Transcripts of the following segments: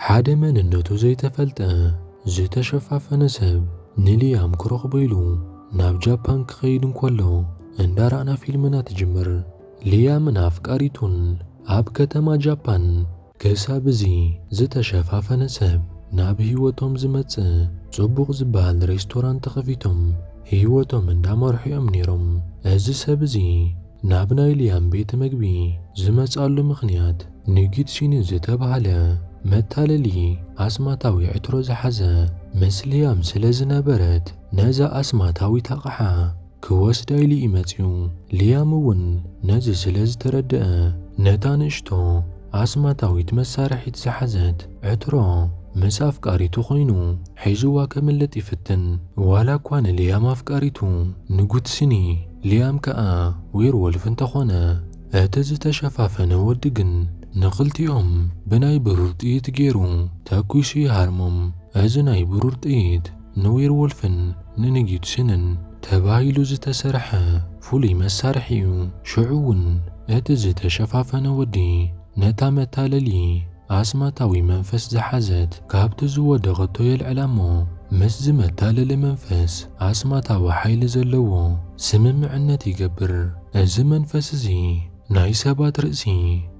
ሓደ መንነቱ ዘይተፈልጠ ዝተሸፋፈነ ሰብ ንሊያም ክረኽቦ ኢሉ ናብ ጃፓን ክኸይድ እንከሎ እንዳራእና ፊልምና ትጅምር። ሊያምን ኣፍቃሪቱን ኣብ ከተማ ጃፓን ክሳብ እዚ ዝተሸፋፈነ ሰብ ናብ ህይወቶም ዝመጽእ ጽቡቕ ዝበሃል ሬስቶራንት ከፊቶም ህይወቶም እንዳመርሑ እዮም ነይሮም። እዚ ሰብ እዚ ናብ ናይ ልያም ቤት መግቢ ዝመጽኣሉ ምኽንያት ንጊትሲኒ ዝተባህለ መታለሊ ኣስማታዊ ዕትሮ ዝሓዘ ምስ ልያም ስለ ዝነበረት ነዛ ኣስማታዊት ኣቕሓ ክወስዳ ኢሉ እዩ መጺኡ። ልያም እውን ነዚ ስለ ዝተረድኣ ነታ ንእሽቶ ኣስማታዊት መሳርሒት ዝሓዘት ዕትሮ ምስ ኣፍቃሪቱ ኮይኑ ሒዙዋ ከምልጥ ይፍትን። ዋላ እኳ ንልያም ኣፍቃሪቱ ንጉትሲኒ ሊያም ከኣ ዌርወልፍ እንተኾነ እቲ ዝተሸፋፈነ ወዲ ግን ንኽልቲኦም ብናይ ብሩር ጥይት ጌሩ ተኲሱ ይሃርሞም። እዚ ናይ ብሩር ጥይት ንዌርወልፍን ንንጊድስንን ተባሂሉ ዝተሰርሐ ፍሉይ መሳርሒ'ዩ። ሽዑ'ውን እቲ ዝተሸፋፈነ ወዲ ነታ መታለሊ፣ ኣስማታዊ መንፈስ ዝሓዘት ካብቲ ዝወደቐቶ የልዕላ እሞ፣ ምስዚ መታለሊ መንፈስ ኣስማታዊ ሓይሊ ዘለዎ ስምምዕነት ይገብር። እዚ መንፈስ እዚ ናይ ሰባት ርእሲ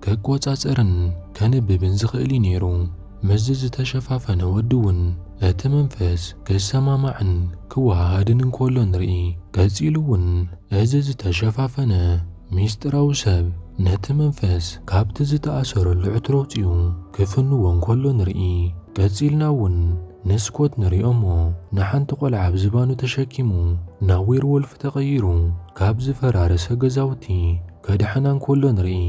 ክቈጻጸርን ከንብብን ዝኽእል እዩ ነይሩ። ምስዚ ዝተሸፋፈነ ወዲ እውን እቲ መንፈስ ክሰማማዕን ክወሃሃድን እንከሎ ንርኢ። ቀጺሉ እውን እዚ ዝተሸፋፈነ ምስጢራዊ ሰብ ነቲ መንፈስ ካብቲ ዝተኣሰረሉ ዕትሮ ኣውጺኡ ክፍንዎ እንከሎ ንርኢ። ቀጺልና እውን ንስኮት ንሪኦ እሞ ንሓንቲ ቆልዓ ኣብ ዝባኑ ተሸኪሙ ናብ ዌርዎልፍ ተቐይሩ ካብ ዝፈራረሰ ገዛውቲ ከድሕና እንከሎ ንርኢ።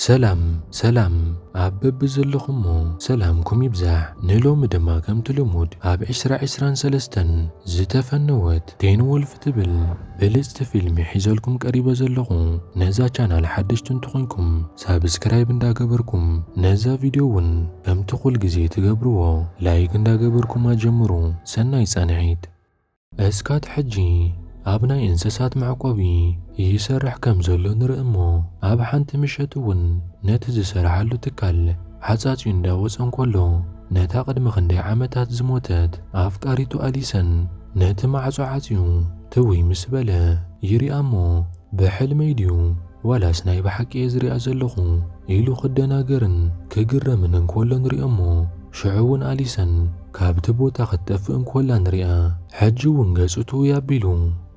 ሰላም ሰላም ኣብ በብዘለኹሞ ሰላምኩም ይብዛሕ ንሎሚ ድማ ከምቲ ልሙድ ኣብ ዕስራ ዕስራን ሰለስተን ዝተፈነወት ቴን ዎልፍ ትብል ብልጽቲ ፊልሚ ሒዘልኩም ቀሪበ ዘለኹ ነዛ ቻናል ሓደሽቲ እንተኾንኩም ሳብስክራይብ እንዳገበርኩም ነዛ ቪድዮ ውን ከምቲ ኩልግዜ ትገብርዎ ላይክ እንዳገበርኩም ኣጀምሩ ሰናይ ጻንሒት። እስካት ሕጂ ኣብ ናይ እንሰሳት መዕቆቢ ይሰርሕ ከም ዘሎ ንርኢ እሞ ኣብ ሓንቲ ምሸት እውን ነቲ ዝሰርሓሉ ትካል ሓጻጽዩ እንዳ ወጸ እንከሎ ነታ ቅድሚ ክንደይ ዓመታት ዝሞተት ኣፍቃሪቱ ኣሊሰን ነቲ ማዕጾ ዓጽዩ ትውይ ምስ በለ ይሪኣ እሞ ብሕልመይ ድዩ ዋላስ ናይ ብሓቂ እየ ዝሪኣ ዘለኹ? ኢሉ ክደናገርን ክግረምን እንከሎ ንሪኦ'ሞ፣ ሽዑ'ውን ኣሊሰን ካብቲ ቦታ ክትጠፍእ እንከላ ንሪኣ። ሕጂ'ውን ገጹ ትውይ ኣቢሉ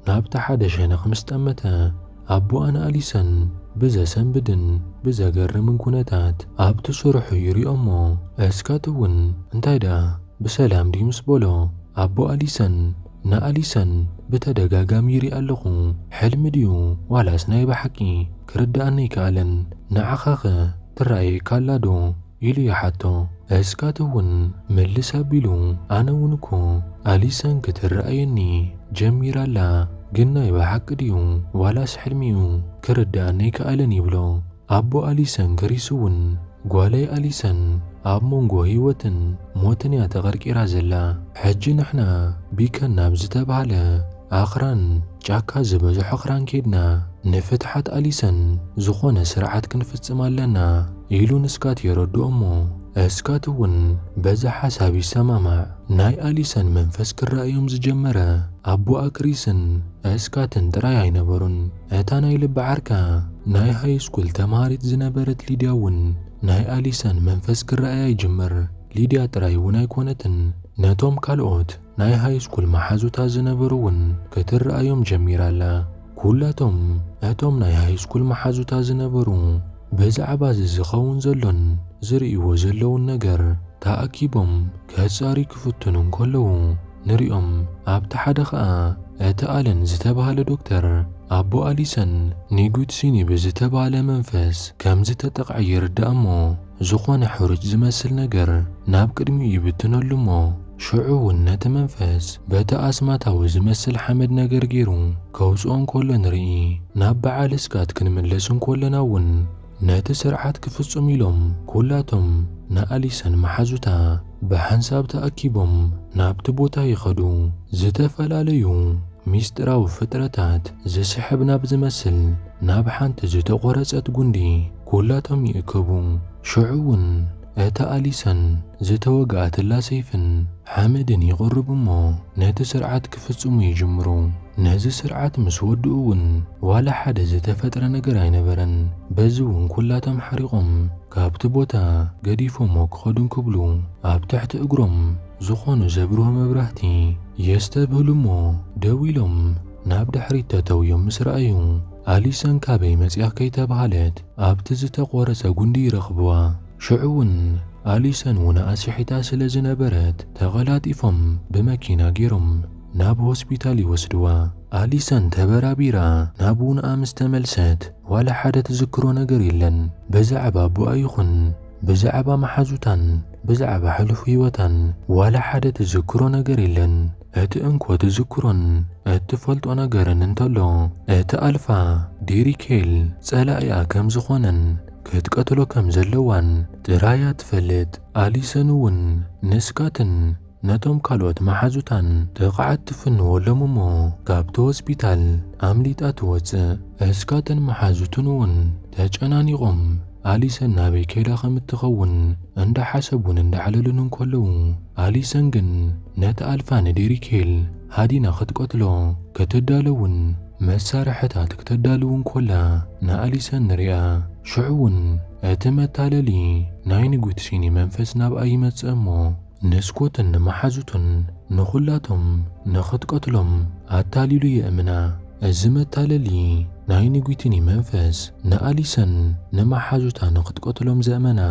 ናብቲ ሓደ ሸነኽ ምስ ጠመተ፣ ኣቦኣ ንኣሊሰን ብዘሰንብድን ብዘገርምን ኩነታት ኣብቲ ስርሑ ይሪኦ'ሞ፣ እስካት'ውን እንታይ ደኣ ብሰላም ድዩ ምስ በሎ፣ ኣቦ ኣሊሰን፣ ንኣሊሰን ብተደጋጋሚ ይሪኣ ኣለኹ ሕልሚ ድዩ ዋላስ ናይ ብሓቂ ክርድኣኒ ኣይከኣለን ንዓኻኸ ትረኣየካ ኣላ ዶ ኢሉ ይሓቶ እስካት እውን መልስ ኣቢሉ ኣነ እውን እኮ ኣሊሰን ክትረኣየኒ ጀሚራ ኣላ ግን ናይ ብሓቂ ድዩ ዋላስ ሕልሚ እዩ ክርድኣኒ ኣይከኣለን ይብሎ ኣቦ ኣሊሰን ግሪስ እውን፣ ጓለይ ኣሊሰን ኣብ መንጎ ህይወትን ሞትን እያ ተቐርቂራ ዘላ። ሕጂ ንሕና ቢከን ናብ ዝተባህለ ኣኽራን፣ ጫካ ዝበዝሖ ኣኽራን ኬድና ንፍትሓት ኣሊሰን ዝኾነ ስርዓት ክንፍጽም ኣለና፣ ኢሉ ንስካት የረድኦ እሞ እስካት እውን በዚ ሓሳብ ይሰማማዕ። ናይ ኣሊሰን መንፈስ ክረኣዮም ዝጀመረ ኣቦኣ ክሪስን እስካትን ጥራይ ኣይነበሩን። እታ ናይ ልቢ ዓርካ ናይ ሃይስኩል ተማሃሪት ዝነበረት ሊድያ እውን ናይ ኣሊሰን መንፈስ ክረኣያ ይጅምር። ሊድያ ጥራይ እውን ኣይኮነትን፣ ነቶም ካልኦት ናይ ሃይስኩል መሓዙታ ዝነበሩ እውን ክትረኣዮም ጀሚራ ኣላ። ኩላቶም እቶም ናይ ሃይስኩል መሓዙታ ዝነበሩ ብዛዕባ እዚ ዝኸውን ዘሎን ዝርእይዎ ዘለዉን ነገር ተኣኪቦም ከጻርዩ ክፍትኑ እንከለዉ ንሪኦም። ኣብቲ ሓደ ኸኣ እቲ ኣለን ዝተባህለ ዶክተር ኣቦ ኣሊሰን ኒጉትሲኒ ብዝተባህለ መንፈስ ከም ዝተጠቕዐ ይርዳእ እሞ ዝኾነ ሕሩጭ ዝመስል ነገር ናብ ቅድሚኡ ይብትነሉ እሞ ሽዑ ውን ነቲ መንፈስ በቲ ኣስማታዊ ዝመስል ሓመድ ነገር ጌሩ ከውጽኦ እንከሎ ንርኢ። ናብ በዓል እስካት ክንምለስ እንከሎና ውን ነቲ ስርዓት ክፍጽሙ ኢሎም ኩላቶም ንኣሊሰን መሓዙታ ብሓንሳብ ተኣኪቦም ናብቲ ቦታ ይኸዱ። ዝተፈላለዩ ሚስጢራዊ ፍጥረታት ዝስሕብ ናብ ዝመስል ናብ ሓንቲ ዝተቖረጸት ጉንዲ ኩላቶም ይእከቡ። ሽዑ ውን እታ ኣሊሰን ዝተወግኣትላ ሰይፍን ሓመድን ይቕርቡ እሞ ነቲ ስርዓት ክፍጽሙ ይጅምሩ። ነዚ ስርዓት ምስ ወድኡ እውን ዋላ ሓደ ዝተፈጥረ ነገር ኣይነበረን። በዚ እውን ኩላቶም ሓሪቖም ካብቲ ቦታ ገዲፎሞ ክኸዱ እንክብሉ ኣብ ትሕቲ እግሮም ዝኾኑ ዘብርሁ መብራህቲ የስተብህሉ እሞ ደው ኢሎም ናብ ድሕሪት ተተውዮም ምስ ረኣዩ ኣሊሰን ካበይ መጺኣ ከይተብሃለት ኣብቲ ዝተቖረጸ ጉንዲ ይረኽብዋ። ሽዑ እውን ኣሊሰን እውን ኣስሒታ ስለ ዝነበረት ተቐላጢፎም ብመኪና ገይሮም ናብ ሆስፒታል ይወስድዋ። ኣሊሰን ተበራቢራ ናብ ውንኣ ምስ ተመልሰት ዋላ ሓደ ትዝክሮ ነገር የለን። ብዛዕባ ኣቦኣ ይኹን ብዛዕባ መሓዙታን ብዛዕባ ሕሉፍ ህይወታን ዋላ ሓደ ትዝክሮ ነገር የለን። እቲ እንኮ ትዝክሮን እትፈልጦ ነገርን እንተሎ እቲ ኣልፋ ዲሪኬል ጸላኢኣ ከም ዝኾነን ክትቀትሎ ከም ዘለዋን ጥራይ እያ ትፈልጥ። ኣሊሰን እውን ንስካትን ነቶም ካልኦት መሓዙታን ጥቕዓት ትፍንወሎም እሞ ካብቲ ሆስፒታል ኣምሊጣ ትወጽእ። እስካትን መሓዙትን እውን ተጨናኒቖም ኣሊሰን ናበይ ከይዳ ከም እትኸውን እንዳሓሰቡን እንዳዕለሉን እንከለዉ፣ ኣሊሰን ግን ነቲ ኣልፋ ንዴሪኬል ሃዲና ክትቀትሎ ክትዳለውን መሳርሕታት ክተዳልው እንከላ ንኣሊሰን ንሪኣ። ሽዑ'ውን እቲ መታለሊ ናይ ንጉትሲኒ መንፈስ ናብኣ ይመጽእ እሞ፣ ንስኮትን ንመሓዙቱን ንኹላቶም ንኽትቀትሎም ኣታሊሉ የእምና። እዚ መታለሊ ናይ ንጒቲኒ መንፈስ ንኣሊሰን ንመሓዙታ ንኽትቀትሎም ዘእመና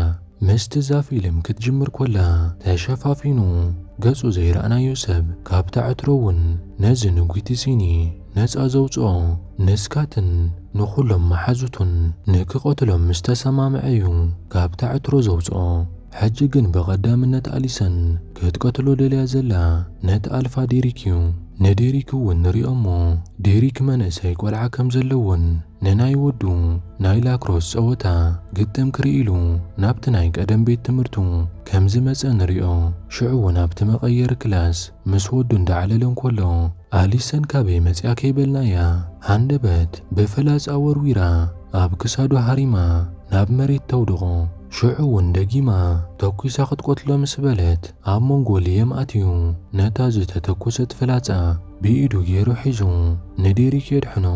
ምስቲ እዛ ፊልም ክትጅምር ኮላ ተሸፋፊኑ ገጹ ዘይረኣናዮ ሰብ ካብታ ዕትሮ እውን ነዚ ንጒቲ ሲኒ ነጻ ዘውጽኦ ንስካትን ንኹሎም መሓዙቱን ንክቀትሎም ምስ ተሰማምዐ እዩ ካብታ ዕትሮ ዘውጽኦ። ሕጂ ግን ብቐዳምነት ኣሊሰን ክትቀትሎ ደልያ ዘላ ነቲ ኣልፋ ዴሪክ እዩ። ንዴሪክ እውን ንሪኦ እሞ ዴሪክ መንእሰይ ቆልዓ ከም ዘለዎን ንናይ ወዱ ናይ ላክሮስ ጸወታ ግጥም ክርኢ ኢሉ ናብቲ ናይ ቀደም ቤት ትምህርቱ ከም ዝመጸ ንሪኦ። ሽዑ እውን ኣብቲ መቐየሪ ክላስ ምስ ወዱ እንዳዕለለ እንከሎ ኣሊሰን ካበይ መጺኣ ከይበልናያ ሃንደበት ብፍላጻ ወርዊራ ኣብ ክሳዱ ሃሪማ ናብ መሬት ተውድቖ። ሽዑ እውን ደጊማ ተኲሳ ክትቆትሎ ምስ በለት፣ ኣብ መንጎ ልየም ኣትዩ ነታ ዝተተኮሰት ፍላጻ ብኢዱ ገይሩ ሒዙ ንዴሪክ የድሕኖ።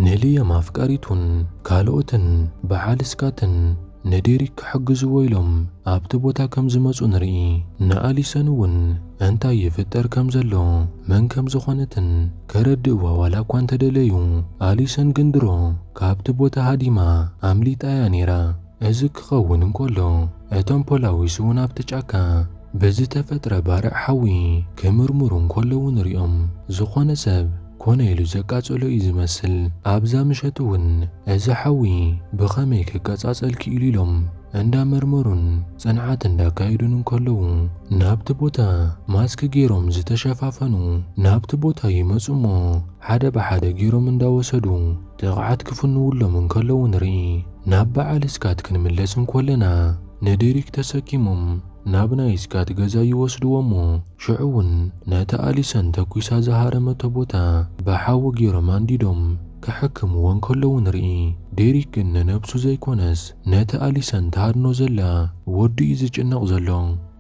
ንልየም ኣፍቃሪቱን ካልኦትን ብዓል ስካትን ንዴሪክ ክሕግዝዎ ኢሎም ኣብቲ ቦታ ከም ዝመጹ ንርኢ። ንኣሊሰን እውን እንታይ ይፍጠር ከም ዘሎ መን ከም ዝኾነትን ከረድእዋ ዋላ እኳ እንተደለዩ ኣሊሰን ግን ድሮ ካብቲ ቦታ ሃዲማ ኣምሊጣ እያ ነይራ። እዚ ክኸውን እንከሎ፣ እቶም ፖላዊስ'ውን ኣብቲ ጫካ ብዝተፈጥረ ባርዕ ሓዊ ክምርምሩ እንከለዉ ንርእዮም። ዝኾነ ሰብ ኮነ ኢሉ ዘቃጸሎ እዩ ዝመስል። ኣብዛ ምሸት'ውን እዚ ሓዊ ብኸመይ ክቀጻጸል ክኢሉ ኢሎም እንዳመርመሩን ጽንዓት እንዳካየዱን እንከለዉ፣ ናብቲ ቦታ ማስክ ጌሮም ዝተሸፋፈኑ ናብቲ ቦታ ይመጹ'ሞ ሓደ ብሓደ ጌሮም እንዳወሰዱ ጥቕዓት ክፍንውሎም እንከለዉ ንርኢ። ናብ በዓል ስካት ክንምለስ እንኮለና፣ ንዲሪክ ተሰኪሞም ናብ ናይ ስካት ገዛ ይወስድዎ'ሞ ሽዑ'ውን ነቲ ኣሊሰን ተኲሳ ዝሃረመቶ ቦታ ብሓዊ ጌሮም ኣንዲዶም ከሕክምዎ እንከለዉ ንርኢ። ዲሪክ ግን ንነብሱ ዘይኮነስ ነቲ ኣሊሰን ትሃድኖ ዘላ ወዱ'ዩ ዝጭነቕ ዘሎ።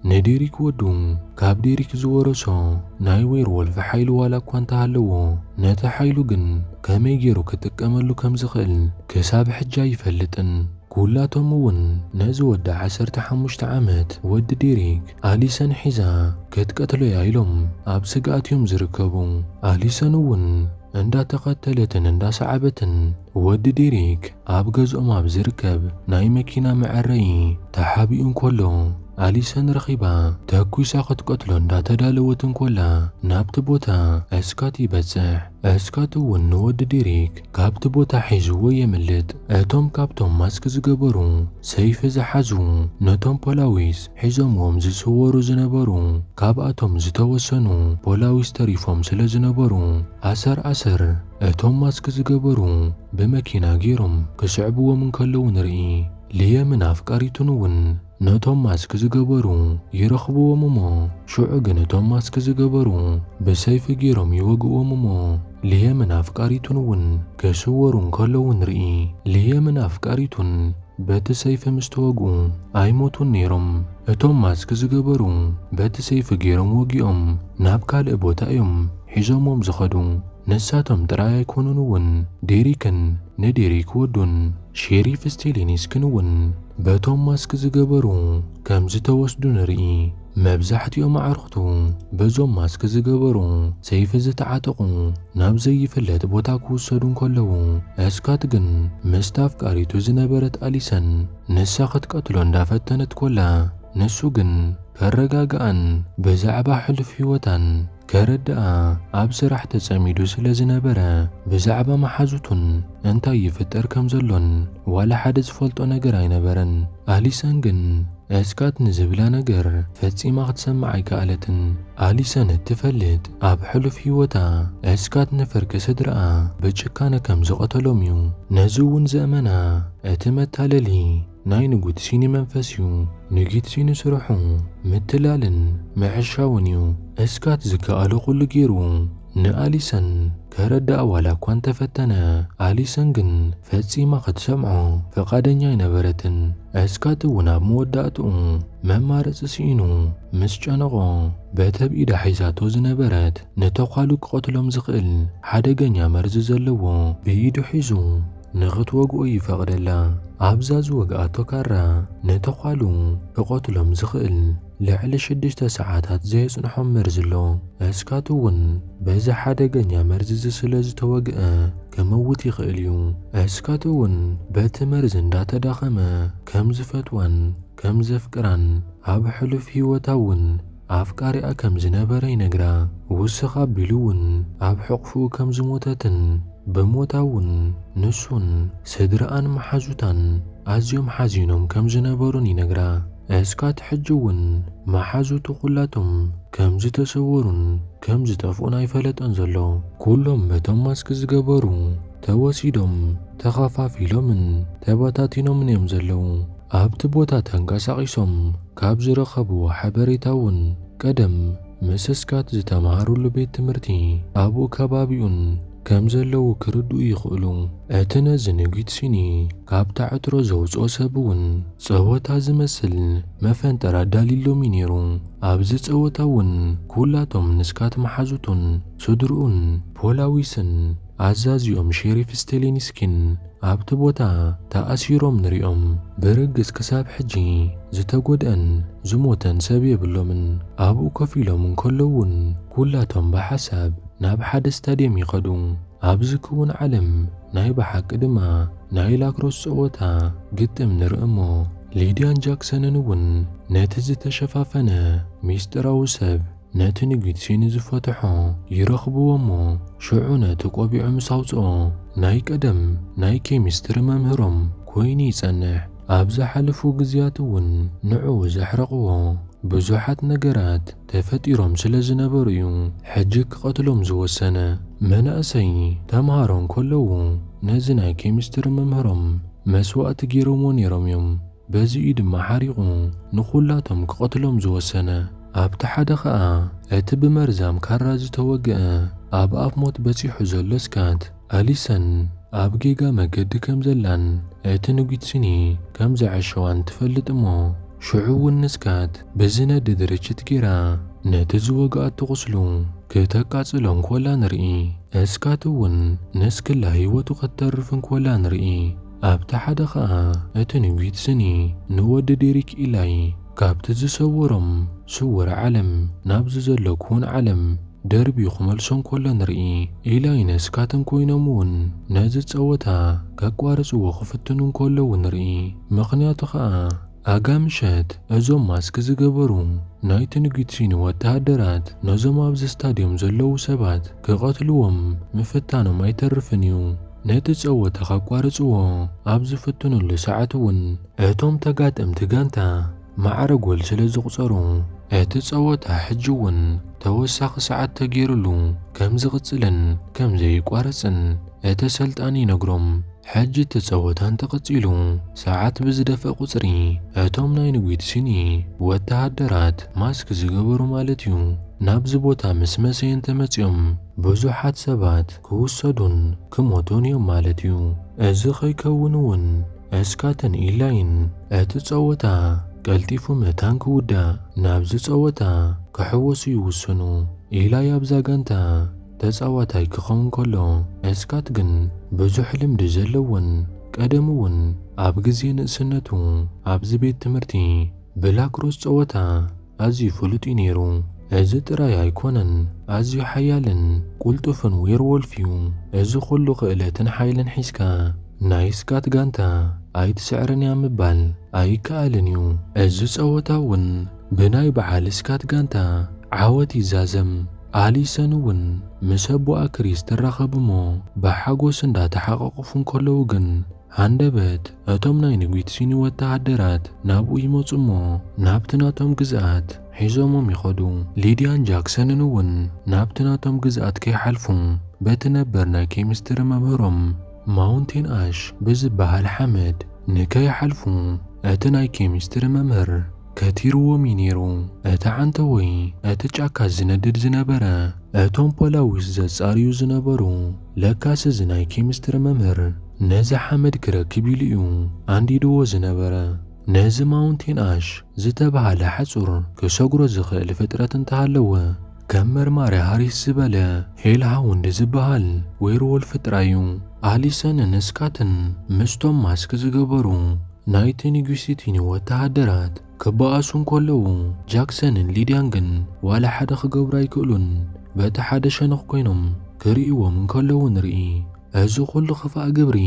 ንዴሪክ ወዱ ካብ ዴሪክ ዝወረሶ ናይ ዌርዎልፍ ሓይሊ ዋላ እኳ እንተሃለዎ፣ ነቲ ሓይሉ ግን ከመይ ጌሩ ክጥቀመሉ ከም ዝኽእል ክሳብ ሕጂ ኣይፈልጥን። ኩላቶም እውን ነዚ ወዲ ዓሰርተ ሓሙሽተ ዓመት ወዲ ዴሪክ፣ ኣሊሰን ሒዛ ክትቀትሎ እያ ኢሎም ኣብ ስግኣት እዮም ዝርከቡ። ኣሊሰን እውን እንዳተኸተለትን እንዳሰዓበትን ወዲ ዴሪክ፣ ኣብ ገዝኦም ኣብ ዝርከብ ናይ መኪና መዐረዪ ተሓቢኡ እንከሎ ኣሊሰን ረኺባ ተኲሳ ክትቀትሎ እንዳተዳለወት እንከላ ናብቲ ቦታ እስካት ይበጽሕ። እስካት እውን ንወዲ ዴሪክ ካብቲ ቦታ ሒዝዎ የምልጥ። እቶም ካብቶም ማስክ ዝገበሩ ሰይፊ ዝሓዙ ነቶም ፖላዊስ ሒዞምዎም ዝስወሩ ዝነበሩ ካብኣቶም ዝተወሰኑ ፖላዊስ ተሪፎም ስለዝነበሩ ኣሰር ኣሰር እቶም ማስክ ዝገበሩ ብመኪና ገይሮም ክስዕብዎም እንከለዉ ንርኢ። ልየምን ኣፍቃሪቱን እውን ነቶም ማስክ ዝገበሩ ይረኽብዎም እሞ ሽዑ ግን እቶም ማስክ ዝገበሩ ብሰይፊ ገይሮም ይወግእዎም እሞ ልየምን ኣፍቃሪቱን እውን ክስወሩ እንከለዉ ንርኢ። ልየምን ኣፍቃሪቱን በቲ ሰይፊ ምስ ተወግኡ ኣይሞቱን ነይሮም። እቶም ማስክ ዝገበሩ በቲ ሰይፊ ገይሮም ወጊኦም ናብ ካልእ ቦታ እዮም ሒዞምዎም ዝኸዱ። ንሳቶም ጥራይ ኣይኮኑን'ውን፣ ዴሪክን ንዴሪክ ወዱን ሼሪፍ ስቴሊኒስክን'ውን በቶም ማስክ ዝገበሩ ከም ዝተወስዱ ንርኢ። መብዛሕትኦም ኣዕሩኽቱ በዞም ማስክ ዝገበሩ ሰይፊ ዝተዓጠቑ ናብ ዘይፍለጥ ቦታ ክውሰዱ እንከለዉ፣ ስካት ግን ምስታ ኣፍቃሪቱ ዝነበረት ኣሊሰን ንሳ ክትቀትሎ እንዳፈተነት ኮላ ንሱ ግን ከረጋግኣን ብዛዕባ ሕሉፍ ህይወታን ከረድኣ ኣብ ስራሕ ተጸሚዱ ስለ ዝነበረ፣ ብዛዕባ መሓዙቱን እንታይ ይፍጠር ከም ዘሎን ዋላ ሓደ ዝፈልጦ ነገር ኣይነበረን። ኣሊሰን ግን እስካት ንዝብላ ነገር ፈጺማ ክትሰምዕ ኣይከኣለትን። ኣሊሰን እትፈልጥ ኣብ ሕሉፍ ህይወታ እስካት ንፍርቂ ስድርኣ ብጭካነ ከም ዝቐተሎም'ዩ። ነዚ'ውን ዘእመና እቲ መታለሊ፣ ናይ ንጉትሲኒ መንፈስ እዩ ንጊትሲኒ ስርሑ ምትላልን ምዕሻውን እዩ እስካት ዝከኣሎ ኩሉ ጌሩ ንኣሊሰን ከረድኣ ዋላ እኳ እንተፈተነ ኣሊሰን ግን ፈጺማ ክትሰምዖ ፍቃደኛ ኣይነበረትን እስካት እውን ኣብ መወዳእትኡ መማረጺ ስኢኑ ምስ ጨነቆ በቲ ኣብ ኢዳ ሒዛቶ ዝነበረት ንተኳሉ ክቀትሎም ዝክእል ሓደገኛ መርዚ ዘለዎ ብኢዱ ሒዙ ንኽትወግኦ ይፈቕደላ። ኣብዛ ዝወግኣቶ ካራ ንተዃሉ ክቐትሎም ዝኽእል ልዕሊ ሽዱሽተ ሰዓታት ዘየጽንሖም መርዚ ኣሎ። እስካቱ እውን በዚ ሓደገኛ መርዚ'ዚ ስለ ዝተወግኣ ክመውት ይኽእል እዩ። እስካቱ እውን በቲ መርዚ እንዳተዳኸመ ከም ዝፈትዋን ከም ዘፍቅራን ኣብ ሕሉፍ ህይወታ እውን ኣፍቃሪኣ ከም ዝነበረ ይነግራ፣ ውስኽ ኣቢሉ እውን ኣብ ሕቝፍኡ ከም ዝሞተትን ብሞታ እውን ንሱን ስድራኣን መሓዙታን ኣዝዮም ሓዚኖም ከም ዝነበሩን ይነግራ። እስካት ሕጂ እውን መሓዙቱ ኵላቶም ከም ዝተሰወሩን ከም ዝጠፍኡን ኣይፈለጠን ዘሎ። ኵሎም በቶም ማስክ ዝገበሩ ተወሲዶም፣ ተኸፋፊሎምን ተበታቲኖምን እዮም ዘለዉ። ኣብቲ ቦታ ተንቀሳቒሶም ካብ ዝረኸብዎ ሓበሬታ እውን ቀደም ምስስካት ዝተምሃርሉ ቤት ትምህርቲ ኣብኡ ከባቢኡን ከም ዘለዉ ክርድኡ ይኽእሉ። እቲ ነዚ ንጒት ሲኒ ካብታ ዕትሮ ዘውጽኦ ሰብ እውን ጸወታ ዝመስል መፈንጠር ኣዳልዩሎም እዩ ነይሩ። ኣብዚ ጸወታ እውን ኵላቶም ንስካት መሓዙቱን ስድርኡን ፖላዊስን፣ ኣዛዚኦም ሼሪፍ ስቴሊንስኪን ኣብቲ ቦታ ተኣሲሮም ንሪኦም። ብርግጽ ክሳብ ሕጂ ዝተጎድኣን ዝሞተን ሰብ የብሎምን። ኣብኡ ኮፍ ኢሎም እንከለዉ'ውን ኩላቶም ብሓሳብ ናብ ሓደ ስታድየም ይኸዱ። ኣብዚ ክዉን ዓለም ናይ ብሓቂ ድማ ናይ ላክሮስ ጸወታ ግጥም ንርኢ'ሞ ሊድያን ጃክሰንን እውን ነቲ ዝተሸፋፈነ ምስጢራዊ ሰብ ነቲ ንግድሲ ንዝፈትሖ ይረኽብዎ እሞ ሽዑ ነቲ ቆቢዑ ምስ ኣውጽኦ ናይ ቀደም ናይ ኬሚስትሪ መምህሮም ኮይኑ ይጸንሕ። ኣብ ዝሓለፉ ግዝያት እውን ንዕኡ ዘሕረቕዎ ብዙሓት ነገራት ተፈጢሮም ስለ ዝነበሩ እዩ ሕጂ ክቐትሎም ዝወሰነ። መናእሰይ ተምሃሮ እንከለዉ ነዚ ናይ ኬሚስትሪ መምህሮም መስዋእቲ ገይሮምዎ ነይሮም እዮም። በዚ'ዩ ድማ ሓሪቑ ንዅላቶም ኪቐትሎም ዝወሰነ። ኣብቲ ሓደ ኸኣ እቲ ብመርዛም ካራ ዝተወግአ፣ ኣብ ኣፍ ሞት በጺሑ ዘሎ ስካት፣ ኣሊሰን ኣብ ጌጋ መገዲ ከም ዘላን እቲ ንጒትስኒ ከም ዘዐሸዋን ትፈልጥ እሞ ሽዑ'ውን ንስካት ብዚነድድ ርችት ገይራ ነቲ ዝወግኣቶ ቝስሉ ክተቃጽሎ እንኮላ ንርኢ። ስካት'ውን ንስክላ ህይወቱ ከተርፍ እንኮላ ንርኢ። ኣብቲ ሓደ ኸኣ እቲ ንጒት ስኒ ንወዲ ዲሪክ ኢላይ ካብቲ ዝሰወሮም ስውር ዓለም ናብዚ ዘሎ ክዉን ዓለም ደርብዩ ክመልሶ እንከሎ ንርኢ። ኢላይ ነስካትን ኮይኖም እውን ነዚ ጸወታ ከቋርጽዎ ክፍትኑ እንከለዉ ንርኢ። ምኽንያቱ ኸኣ ኣጋ ምሸት እዞም ማስክ ዝገበሩ ናይ ትንግትሪኒ ወተሃደራት ነዞም ኣብዚ ስታድዮም ዘለዉ ሰባት ክቐትልዎም ምፍታኖም ኣይተርፍን እዩ። ነቲ ጸወታ ከቋርጽዎ ኣብ ዝፍትኑሉ ሰዓት እውን እቶም ተጋጠምቲ ጋንታ ማዕረ ጎል ስለ ዝቑጸሩ እቲ ጸወታ ሕጂ እውን ተወሳኺ ሰዓት ተገይሩሉ ከም ዝቕጽልን ከም ዘይቋረጽን እቲ ሰልጣን ይነግሮም። ሕጂ እቲ ጸወታ እንተ ቀጺሉ፣ ሰዓት ብዝደፍእ ቁጽሪ፣ እቶም ናይ ንጒድ ሲኒ ወተሃደራት፣ ማስክ ዝገበሩ ማለት እዩ፣ ናብዚ ቦታ ምስ መሰየ እንተ መጺኦም፣ ብዙሓት ሰባት ክውሰዱን ክሞቱን እዮም ማለት እዩ። እዚ ከይከውን እውን እስካትን ኢላይን እቲ ጸወታ ቀልጢፉ መታን ክውዳእ ናብዚ ጸወታ ክሕወሱ ይውስኑ። ኢላይ ኣብዛ ጋንታ ተጻዋታይ ክኸውን ከሎ፣ እስካት ግን ብዙሕ ልምዲ ዘለዎን ቀደሙ እውን ኣብ ግዜ ንእስነቱ ኣብዚ ቤት ትምህርቲ ብላክሮስ ጸወታ ኣዝዩ ፍሉጥ እዩ ነይሩ። እዚ ጥራይ ኣይኮነን፣ ኣዝዩ ሓያልን ቁልጡፍን ዌርዎልፍ እዩ። እዚ ኩሉ ክእለትን ሓይልን ሒዝካ ናይ እስካት ጋንታ ኣይትስዕርን እያ ምባል ኣይከኣልን እዩ። እዚ ጸወታ እውን ብናይ በዓል እስካት ጋንታ ዓወት ይዛዘም። ኣሊሰን እውን ምስ ኣቦኣ ክሪስ ትራኸብ እሞ ብሓጎስ እንዳ ተሓቛቖፉ እንከለዉ ግን ሃንደበት እቶም ናይ ንጒት ሲኒ ወተሃደራት ናብኡ ይመጹ እሞ ናብቲ ናቶም ግዝኣት ሒዞሞም ይኸዱ። ሊድያን ጃክሰንን እውን ናብቲ ናቶም ግዝኣት ከይሓልፉ በቲ ነበር ናይ ኬሚስትሪ መምህሮም ማውንቴን ኣሽ ብዝበሃል ሓመድ ንከይሓልፉ እቲ ናይ ኬሚስትሪ መምህር ከቲርዎም እዩ ነይሩ። እቲ ዓንተቦይ ነቲ ጫካ ዝነድድ ዝነበረ እቶም ፖላዊስ ዘጻርዩ ዝነበሩ ለካስ እዚ ናይ ኬሚስትሪ መምህር ነዚ ሓመድ ክረክብ ኢሉ እዩ ኣንዲድዎ ዝነበረ። ነዚ ማውንቴን ኣሽ ዝተብሃለ ሓጹር ክሰግሮ ዝኽእል ፍጥረት እንተሃለወ ከም መርማሪ ሃሪስ ዝበለ ሄል ሃውንድ ዝበሃል ዌርዎልፍ ጥራይ እዩ ኣሊሰንን ስካትን ምስቶም ማስክ ዝገበሩ ናይ ቴኒጉሲቲኒ ወተሃደራት ክበኣሱ እንከለዉ፣ ጃክሰንን ሊድያን ግን ዋላ ሓደ ክገብሩ ኣይክእሉን፣ በቲ ሓደ ሸነኽ ኰይኖም ክርእይዎም እንከለዉ ንርኢ። እዚ ኹሉ ኽፋእ ግብሪ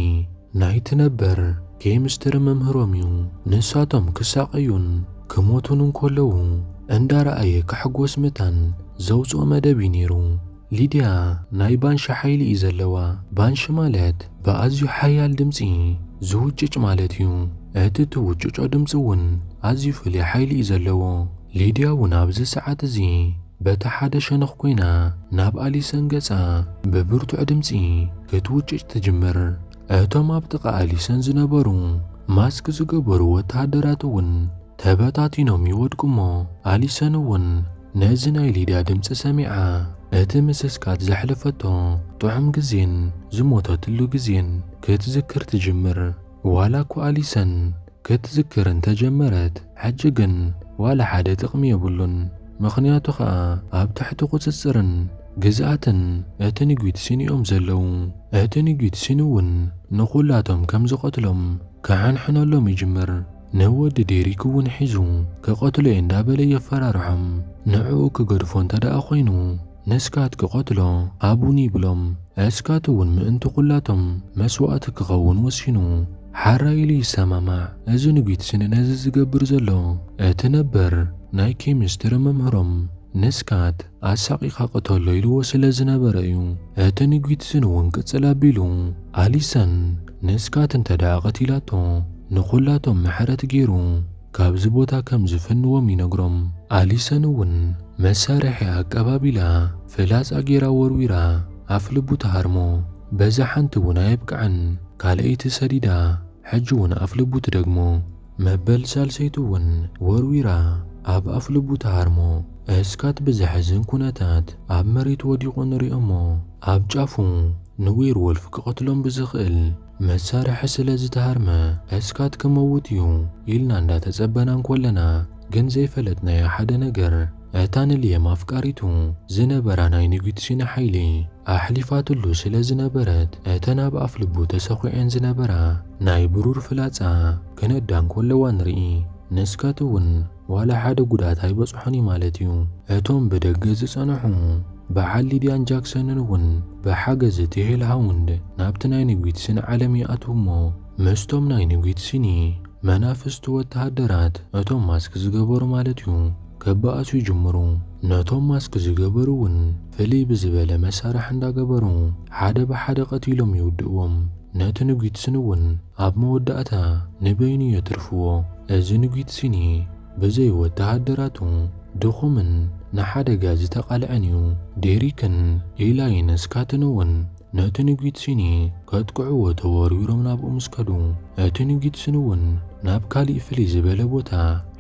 ናይቲ ነበር ኬሚስትሪ መምህሮም እዩ። ንሳቶም ክሳቐዩን ክሞቱን እንከለዉ እንዳረኣየ ክሕጎስ መታን ዘውጽኦ መደብ እዩ ነይሩ። ሊድያ ናይ ባንሺ ሓይሊ እዩ ዘለዋ። ባንሺ ማለት ብኣዝዩ ሓያል ድምጺ ዝውጭጭ ማለት እዩ። እቲ ትውጭጮ ድምጺ እውን ኣዝዩ ፍሉይ ሓይሊ እዩ ዘለዎ። ሊድያ እውን ኣብዚ ሰዓት እዚ በቲ ሓደ ሸነኽ ኰይና ናብ ኣሊሰን ገጻ ብብርቱዕ ድምጺ ክትውጭጭ ትጅምር። እቶም ኣብ ጥቓ ኣሊሰን ዝነበሩ ማስክ ዝገበሩ ወተሃደራት እውን ተበታቲኖም ይወድቁ እሞ ኣሊሰን እውን ነዚ ናይ ሊድያ ድምጺ ሰሚዓ እቲ ምስስካት ዘሕለፈቶ ጥዑም ግዜን ዝሞተትሉ ግዜን ክትዝክር ትጅምር። ዋላ እኳ ኣሊሰን ክትዝክር እንተ ጀመረት ሕጂ ግን ዋላ ሓደ ጥቕሚ የብሉን፣ ምኽንያቱ ኸኣ ኣብ ትሕቲ ቍጽጽርን ግዝኣትን እቲ ንጒት ሲን'ዮም ዘለዉ። እቲ ንጒት ሲን'ውን ንዅላቶም ከም ዝቐትሎም ክሕንሕነሎም ይጅምር፣ ንወዲ ዴሪክ'ውን ሒዙ ክቐትሎ'የ እንዳ በለ የፈራርሖም፣ ንዕኡ ክገድፎ እንተ ደኣ ዀይኑ ንስካት ክቐትሎ ሃቡኒ ይብሎም፣ እስካት'ውን ምእንቲ ዅላቶም መስዋእቲ ክኸውን ወሲኑ። ሓራይ ኢሉ ይሰማማዕ። እዚ ንጊትስን ነዚ ዝገብር ዘሎ እቲ ነበር ናይ ኬሚስትሪ መምህሮም ንስካት ኣሳቂካ ቅተሎ ኢልዎ ስለ ዝነበረ እዩ። እቲ ንጊትስን እውን ቅጽል ኣቢሉ ኣሊሳን ንስካት እንተደኣ ቀቲላቶ ንኩላቶም ምሕረት ጌሩ። ካብዚ ቦታ ከም ዝፍንዎም ይነግሮም። ኣሊሰን እውን መሳርሒኣ ኣቀባቢላ ፍላጻ ገይራ ወርዊራ ኣፍ ልቡ ትሃርሞ። በዛ ሓንቲ እውን ኣየብቅዐን ካልኣይቲ ሰዲዳ ሕጂ እውን ኣፍ ልቡ ትደግሞ። መበል ሳልሰይቲ እውን ወርዊራ ኣብ ኣፍ ልቡ ትሃርሞ። እስካት ብዘሕዝን ኩነታት ኣብ መሬት ወዲቁ ንሪኦ እሞ ኣብ ጫፉ ንዌርዎልፍ ክቀትሎም ብዝክእል መሳርሒ ስለ ዝተሃርመ እስካት ክመውት እዩ ኢልና እንዳ ተጸበና እንኮለና ግን ዘይፈለጥናዮ ሓደ ነገር እታ ንልየም ኣፍቃሪቱ ዝነበራ ናይ ንጉትሽነ ሓይሊ ኣሕሊፋትሉ ስለ ዝነበረት እተን ኣብ ኣፍ ልቡ ተሰኩዔን ዝነበራ ናይ ብሩር ፍላጻ ክነዳ እንኮለዋ ንርኢ ንስካት እውን ዋላ ሓደ ጉድኣት ኣይበጽሖን እዩ ማለት እዩ። እቶም ብደገ ዝጸንሑ በዓል ሊድያን ጃክሰንን እውን ብሓገዝ እቲ ሄልሃውንድ ናብቲ ናይ ንጒት ሲን ዓለም ይኣትዉ እሞ ምስቶም ናይ ንጒት ሲኒ መናፍስቲ ወተሃደራት እቶም ማስክ ዝገበሩ ማለት እዩ ክበኣሱ ይጅምሩ። ነቶም ማስክ ዝገበሩ እውን ፍልይ ብዝበለ መሳርሒ እንዳገበሩ ሓደ ብሓደ ቀቲሎም ይውድእዎም። ነቲ ንጒት ሲን እውን ኣብ መወዳእታ ንበይኑ የትርፍዎ። እዚ ንጒት ሲኒ ብዘይ ወተሃደራቱ ድኹምን ንሓደጋ ዝተቓልዐን እዩ። ዴሪክን ኢላይን ስካትን'ውን ነቲ ንጒት ሲኒ ከጥቅዕዎ ተወርዊሮም ናብኡ ምስ ከዱ፣ እቲ ንጒት ሲኒ'ውን ናብ ካልእ ፍልይ ዝበለ ቦታ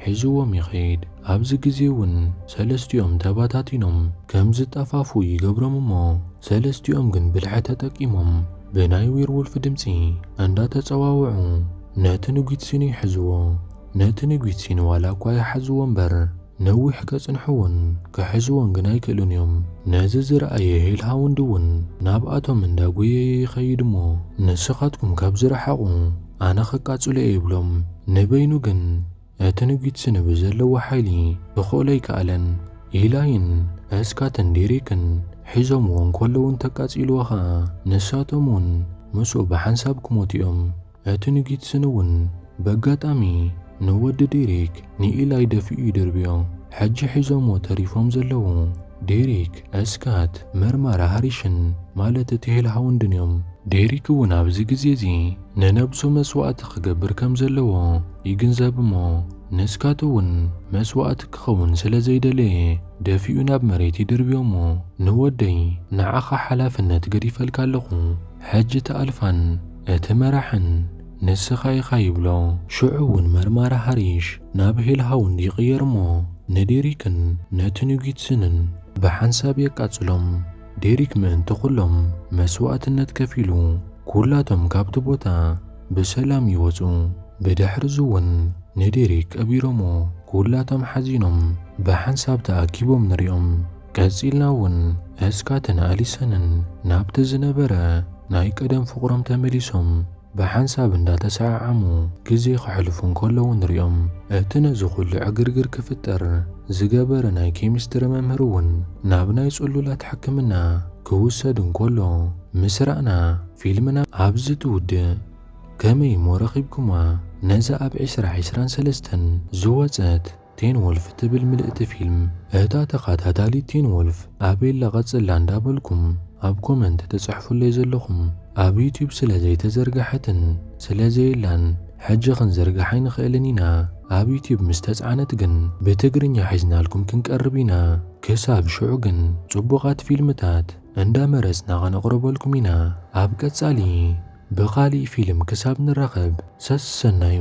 ሒዝዎም ይኸይድ። ኣብዚ ግዜ'ውን ሰለስቲኦም ተበታቲኖም ከም ዝጠፋፍኡ ይገብሮም እሞ ሰለስቲኦም ግን ብልሒ ተጠቂሞም፣ ብናይ ዊርውልፍ ድምጺ እንዳ ተጸዋውዑ ነቲ ንጒትሲኑ ይሕዝዎ። ነቲ ንጒትሲኑ ዋላ እኳ ይሓዝዎ እምበር ነዊሕ ከጽንሕዎን ክሕዝዎን ግን ኣይክእሉን እዮም። ነዚ ዝረኣየ ሄልሃውንድ እውን ናብኣቶም እንዳ ጐየየ ይኸይድ እሞ ንስኻትኩም ካብ ዝረሓቑ ኣነ ከቃጽሎ እየ ይብሎም። ንበይኑ ግን። እቲ ንጒትሲ ንብዘለዎ ሓይሊ እዀል ኣይከኣለን። ኢላይን እስካትን ዴሪክን ሒዞምዎ እንከለዉ እንተቃጺልዎ ከኣ ንሳቶም'ውን ምስኡ ብሓንሳብ ክሞቱ እዮም። እቲ ንጒትስን'ውን በጋጣሚ ንወዲ ዴሪክ ንኢላይ ደፊኡ ይድርብዮ። ሕጂ ሒዞምዎ ተሪፎም ዘለዉ ዴሪክ፣ እስካት፣ መርማራ ሃሪሽን ማለት እቲ ሄልሃውንድን እዮም። ዴሪክ'ውን ኣብዚ ግዜ'ዚ ንነብሱ መስዋእቲ ክገብር ከም ዘለዎ ይግንዘብ እሞ ንስካቶ ውን መስዋእቲ ክከውን ስለ ዘይደለየ ደፊኡ ናብ መሬት ይድርብዮ እሞ ንወደይ ንዓካ ሓላፍነት ገዲፈልካ ኣለኩ ሕጂ እቲ ኣልፋን እቲ መራሕን ንስካ ኢካ ይብሎ ሽዑ ውን መርማሪ ሃሪሽ ናብ ሄልሃውንድ ይቅየር እሞ ንዴሪክን ነቲ ኑጊትስንን ብሓንሳብ የቃጽሎም። ዴሪክ ምእንቲ ዅሎም መስዋእትነት ከፊሉ፣ ኵላቶም ካብቲ ቦታ ብሰላም ይወጹ። ብድሕርዚ'ውን ንዴሪክ ቀቢሮምዎ፣ ኵላቶም ሓዚኖም ብሓንሳብ ተኣኪቦም ንሪኦም። ቀጺልና'ውን እስካትን ኣሊሰንን ናብቲ ዝነበረ ናይ ቀደም ፍቕሮም ተመሊሶም። ብሓንሳብ እንዳተሰዓዓሙ ግዜ ከሕልፉ እንከለዉ ንሪኦም። እቲ ነዚ ኩሉ ዕግርግር ክፍጠር ዝገበረ ናይ ኬሚስትሪ መምህር እውን ናብ ናይ ጽሉላት ሕክምና ክውሰድ እንከሎ ምስ ረኣና ፊልምና ኣብዚ ትውድእ። ከመይ እሞ ረኺብኩማ ነዛ ኣብ ዕስራ ዕስራን ሰለስተን ዝወጸት? ቴን ወልፍ ትብል ምልእቲ ፊልም እታ ተኻታታሊት ቴን ወልፍ ኣበይ ኣላ ቀጽላ እንዳ በልኩም ኣብ ኮመንት ትጽሕፉለይ ዘለኹም ኣብ ዩቱብ ስለ ዘይተዘርገሐትን ስለ ዘየላን ሕጂ ክንዝርግሓ ኣይንኽእልን ኢና ኣብ ዩቱብ ምስ ተጻዕነት ግን ብትግርኛ ሒዝናልኩም ክንቀርብ ኢና ክሳብ ሽዑ ግን ጽቡቃት ፊልምታት እንዳ መረጽና ከነቅርበልኩም ኢና ኣብ ቀጻሊ ብኻሊእ ፊልም ክሳብ ንራኸብ ሰሰናዩ።